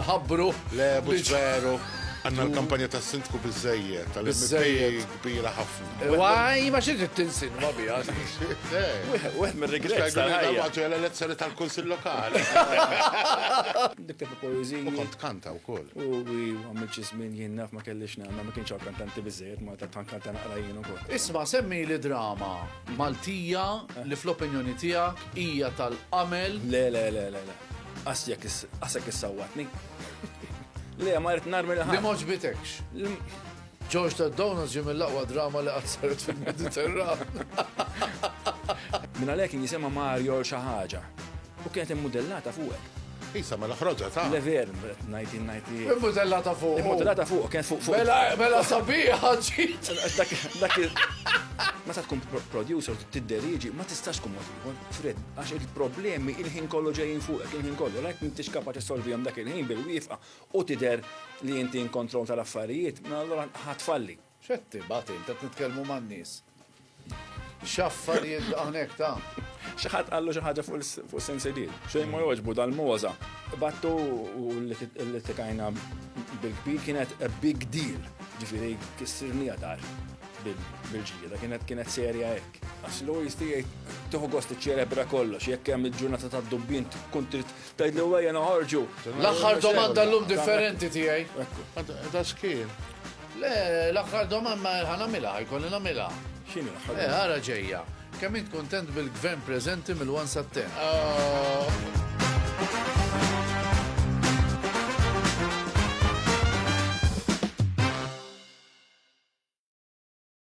nħabbru. Le, mhux veru. Għanna l-kampanja ta' sindku bizzejje, tal-bizzejje kbira ħafna. Waj, ma xie tinsin, ma bija. Wieħed mir-regret. Għagħu l-elezzjoni tal-Kunsil Lokali. Niktebu poeziji. U kont kanta u koll. U għamil ċizmin jien naf ma kellix nagħmel ma kienx kantanti biżejjed ma ta' kanta naqra jien ukoll. Isma' semmi li drama Maltija li fl-opinjoni tiegħek hija tal-qamel. Le le le le le. Qasjek qasek issawwatni. Le ma rrid narmi li ħadd. Li moġbitekx. George ta' Donuts ġie mill-aqwa drama li qatt saret fil-Mediterran. Minn għalhekk kien jisimha Mario l xi ħaġa. U kienet immudellata fuqek. Isa mela ħroġa ta'. Le ver, qed ngħid jien ngħid li. Immudellata fuq. Immudellata fuq, kienet fuq fuq. Mela mela sabiħa ġid. Dak dak Meta tkun pro- producer tidderieġi, ma tistax tkun mod ieħor. Fred, għax il-problemi il-ħin kollu ġejjin fuqek, il-ħin kollu, lajk m'intix kapaċi solvihom dak il-ħin bil-wifqa u tidher li inti in control tal-affarijiet, mela allura ħa tfalli. X'qed tibgħat int qed nitkellmu man-nies. X'affarijiet hawnhekk ta' Xi ħadd qallu xi ħaġa fuq is-sensibil. Xejn ma jogħġbu dal-moża. Battu u li tikajna bil-kbir kienet a big deal. Ġifieri kissirni għadar bil-ġlieda kienet kienet serja hekk. Għax l-għojisti jgħid tuħu gost iċċelebra kollox, jekk hemm il-ġurnata tad-dubbin tkun trid Tgħidlu ejja noħorġu. L-aħħar domanda llum differenti tiegħi. Ta' skin. Le, l-aħħar domanda ħa nagħmilha, jkolli nagħmilha. X'inhi l-aħħar? Eh, ara ġejja. Kemm int kuntent bil-gvern preżenti mill-1 sa 10? Ah.